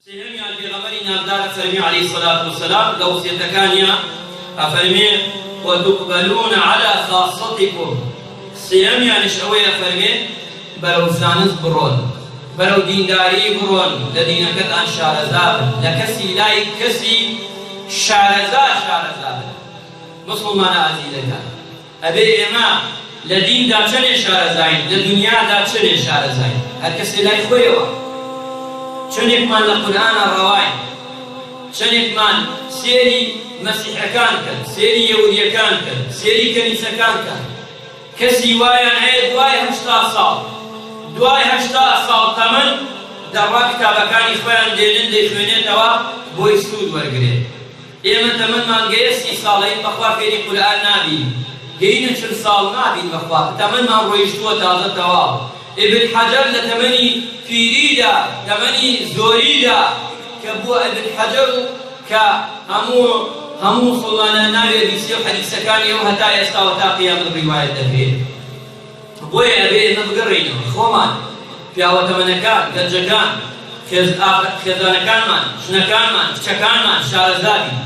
سێهەمیان پێغەمبەری ناودار ئەفەرمێ علیە الصلوە والسلام لە وەسیەتەکانیا ئەفەرمێ وتقبلون علی خاصتکم سێهەمیانش ئەوەی ئەفەرمێ بەرەو زانست بڕۆن بەرەو دینداری بڕۆن لە دینەکەتان شارەزابن لە کەسی لای کەسی شارەزا شارەزابن مسلمانە ئازیزەکان ئەبێ ئێمە لە دیندا چەنێ شارەزاین، لە دونیادا چەنێ شارەزاین، هەر کەسێ لای خۆیەوە چەنێکمان لە قورئانا ڕەواین، چەنێکمان سێری مەسیحەکان کەن، سێری یەودیەکان کەن، سێری کەنیسەکان کەن، کەسی وایان هەیە دوای هەشتا ساڵ، دوای هەشتا ساڵ تەمەن دەڕوان کتابەکانی خۆیان دێنن دەیخوێنێتەوە بۆی سوود وەرگرێ. ئێمە تەمەنمان گەیە سی ساڵەین بەخوا فێری قورئان نابین هین و چل ساڵ نابین بەخوا تەمەنمان ڕۆیشتووە تازە تەواو ابن حجر لە تەمەنی پیریدا تەمەنی زۆریدا کە بووە ابن حجر و کە هەموو هەموو موسڵمانان ناوی ئەبیسێ و حەدیسەکانی ئەو هەتا ئێستاوە تا قیامەت ڕیوایەت دەکرێ. بۆیە ئەبێ ئێمە بگەڕێینەوە خۆمان، پیاوە تەمەنەکان، گەنجەکان، خێزانەکانمان، ژنەکانمان، کچەکانمان شارەزا بین.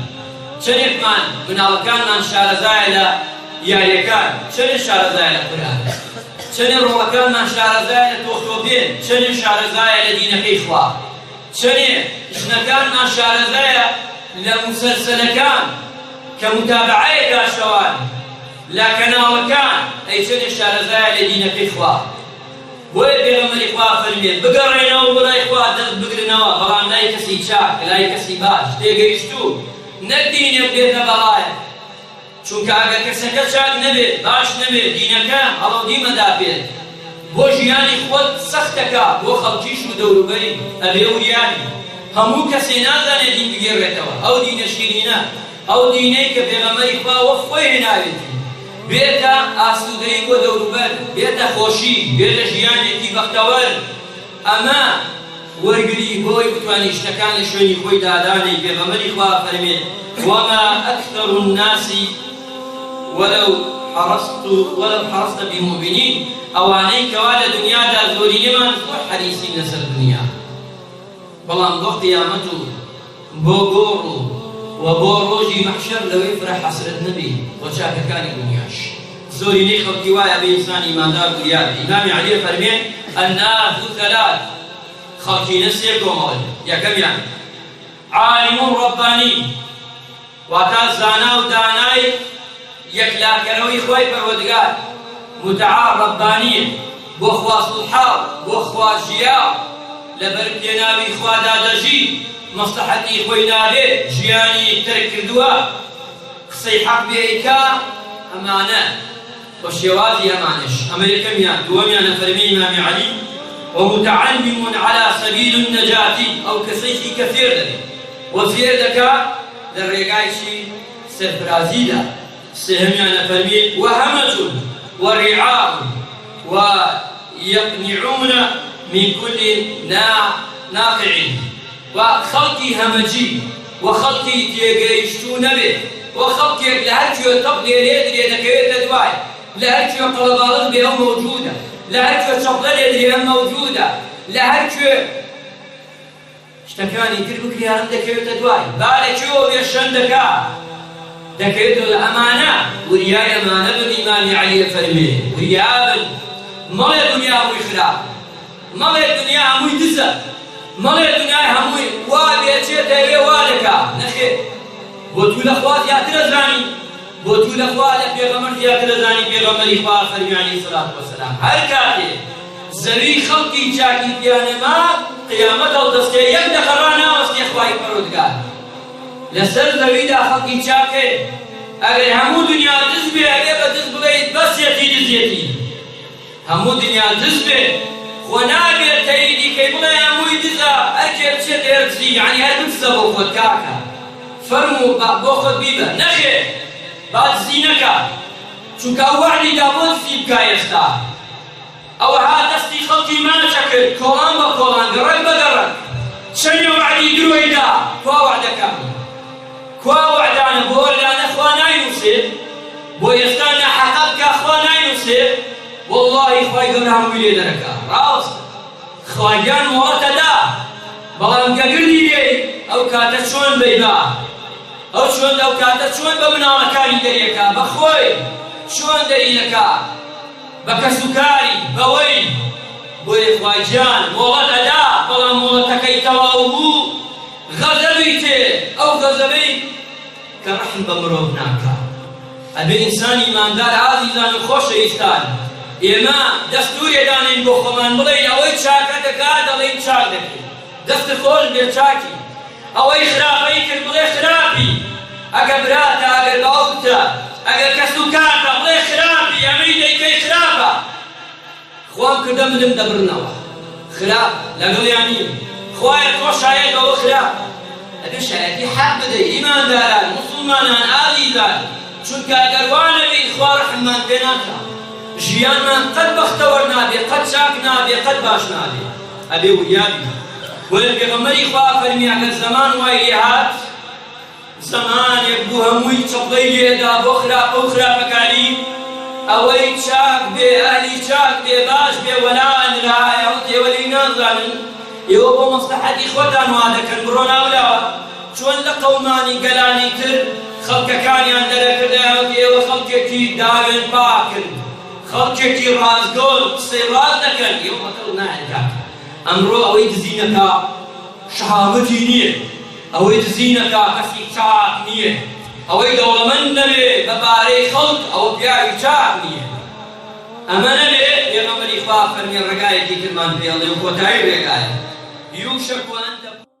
چەنێکمان مناڵەکانمان شارەزایە لە یاریەکان، چەنێ شارەزایە لە قورئان، چەنێ ڕۆڵەکانمان شارەزایە لە تۆختۆپێن، چەنێ شارەزایە لە دینەکەی خوا، چەنێ ژنەکانمان شارەزایە لە موسەلسەلەکان کە موتابەعەیە گاشتەوان. لە کەناڵەکان ئەی چەنێ شارەزایە لە دینەکەی خوا بۆیە پێغەمبەری خوا فەرمیێت بگەڕێنەوە بۆ لای خوا دەست بگرنەوە بەڵام لای کەسی چاک لای کەسی باش تێگەیشتوو نەک دینێک بێتە بەڵایە چونکە ئەگەر کەسەکە چاک نەبێت باش نەبێت دینەکە هەڵەودی مەدابێت بۆ ژیانی خۆت سەختەکە بۆ خەڵکیش و دەوروبەری ئەبێ وریابی هەموو کەسێ نازانێ دین بگێڕێتەوە ئەو دینە شیرینە ئەو دینەی کە پێغەمبەری خوا وەک خۆی هێناوێتی، بێتە ئاسوودەیی بۆ دەوروبەر، بێتە خۆشی، بێتە ژیانێکی بەختەوەر، ئەمە وەرگری بۆ ئەوەی بتوانین شتەکان لە شوێنی خۆی دادانێین، پێغەمبەری خوا ئەفەرمێ، وما اکثر الناس ولو حرصت ولو حرصت بمومنین، ئەوانەی کەوا لە دنیادا زۆرینەمان زۆر حەریصین لەسەر دنیا، بەڵام بۆ قیامەت و بۆ گۆڕ و وە بۆ ڕۆژی مەحشەر لەوەی فرە حەسرەت نەبی وە چاکەکانی دونیاش. زۆرینەی خەڵکی وایە بە ئینسان ئیماندار وریان ئیمامی عەلی ئەفەرمێ، الناس ثلاث، خەڵکینە سێ کۆمەڵەن، یەکەمیان، عالم ربانی، واتە، زانا و دانای یەکلاکەرەوەی خوای پەروەردگار، متعا، ربانیە، بۆ خوا سوڵحا و بۆ خوا ژیا و لەبەر پێناوی خوادا دەژی، مەسڵەحەتی خۆی ناوێ ژیانی تەرک کردووە، قسەی حەق بێ ئەیکا، ئەمانە. وە شێوازی ئەمانەش ئەمە یەکەمیان دووەمیان ئەفەرمێ ئیمامی علی وە متعلم علی سبیل النجاة ئەو کەسەیشی کە فێر دەبێ وە فێر دەکا لە ڕێگای چی سەرفرازیدا سێهەمیان ئەفەرمێ وە همج وە رعاء وە یقنعون من کل ناقع. با خەڵکی هەمەجی و خەڵکی تێگەیشتوو نەبێ و خەڵکێک لە هەر کوێ تەپ لێ لێ درێ دەکەوێتە دوای، لە هەر کوێ قەڵەباڵغ بێ ئەو مەوجوودە، لە هەر کوێ چەپڵە لێ درێ ئەم مەوجوودە، لە هەر کوێ شتەکانی تر بکرێ ئەم دەکەوێتە دوای، با لە کوێوە بێ شەن دەکا دەکەوێتە دوای، ئەمانە وریا ئەمانە بن، ئیمامی عەلی ئەفەرمێ وریا بن مەڵێ دونیا هۆی خراپە. مەڵێ دنیا هەمووی دزە مەڵێ دنیای هەمووی وا بێ چێ دەیەوێ وا دەکا نەخێر بۆ توو لە خوا زیاتر ئەزانی بۆ توو لە خوا لە پێغەمبەر زیاتر ئەزانی پێغەمبەری خوا فەرمی علی سلات وسلام هەر کاتێ زەوی خەڵکی چاکی تیا نەما قیامەت هەڵدەستێ یەک دەقە ڕاناوەستێ خوای پەروەردگار لەسەر زەویدا خەڵکی چاکێ ئەگەر هەموو دنیا دز بێ ئەبێ بە دز بڵێیت بەسێتی دزێتی. هەموو دنیا دز بێ خۆ نابێ تەیدی کەی بڵێ هەمووی دزە ئەرکێ بچێ دەیە دزی یەعنی هەر بدزە بۆ خۆت کاکە فەرموو با بۆ خۆت بیبە نەخێر با دزی نەکا چونکە ئەو وەعدی دا بۆ دزی بکا ئێستا ئەوەها دەستی خەڵکی ماچە کرد کۆڵان بە کۆڵان گەڕەک بە گەڕەک چەنێ وەعدی درۆی دا کوا وەعدەکانی. کوا وەعدانە بۆ ئەلانە خوا ناینوسێ بۆ ئێستا ناحەقە بکا خوا ناینوسێ وەڵاهی خوای گەورە هەمووی لێ دەرەکا ڕاستە خواگیان مۆڵەتە دا بەڵام کە گردی بێی ئەو کاتە چۆن بەی با ئەو چۆن ئەو کاتە چۆن بە مناڵەکانی دەریەکا بە خۆی چۆن دەری دەکا بە کەسوکاری بەوەی بۆیە خواگیان مۆڵەتە دا بەڵام مۆڵەتەکەی تەواو بوو غەزەبی تێ ئەو غەزەبەی کە ڕەحم بە مرۆڤ ناکا ئەبێ ئینسان ئیماندار ئازیزان و خۆشەویستان ئێمە دەستورێ دانێین بۆ خۆمان بڵێین ئەوەی چاکە دەکا دەڵێین چاک دەکەی دەست خۆش بێ چاکی ئەوەی خراپەی کرد بڵێ خراپی ئەگە براتە ئەگەر باوکتە ئەگەر کەس و کارتە بڵێ خراپی ئەمەی دەیکەی خراپە خوام کردە منم دەبڕنەوە خراپ لەگڵیان نیم خوایە تۆ شایەی بەوە خراپ ئەبێ شایەتی حەق بدەی ئیمانداران موسڵمانان ئازیزان چونکە گەر وا نەبین خوا ڕەحممان پێ ناکا ژیانمان قەت بەختەوەر نابێ قەت چاک نابێ قەت باش نابێ ئەبێ وریا بین بۆیە پێغەمبەری خوا فەرمی ئەگەر زەمان وای لێ هات زەمانێک بوو هەمووی چەپڵەی لێدا بۆ خراپە و خراپەکاری، ئەوەی چاک بێ ئەهلی چاک بێ باش بێ وەلا نرا ئەوە ئێوە لێی نازانن ئێوە بۆ مەسلەحەتی خۆتان وا دەکەن بڕۆن ئاولاوە چۆن لە قەومانی گەلانی تر خەڵکەکانیان دەرەکرد ئەوە ئێوە خەڵکێکی داوێن پاکن خەڵکێکی ڕاستگۆن قسەی ڕاست دەکەن ئێوە بەکەڵک نایەن کاکە ئەمڕۆ ئەوەی دزینەکا شەهامەتی نییە. ئەوەی دزی نەکا کەسی چاک نیە ئەوەی دەوڵەمەند نەبێ بە پارەی خەڵک ئەوە پیاوی چاک نیە ئەمە نەبێ پێغەمبەری خوا فەرمی ڕێگایەکی ترمان پێڵێ و کۆتایی ڕێگایە یوشەکو ئەن تەکوون.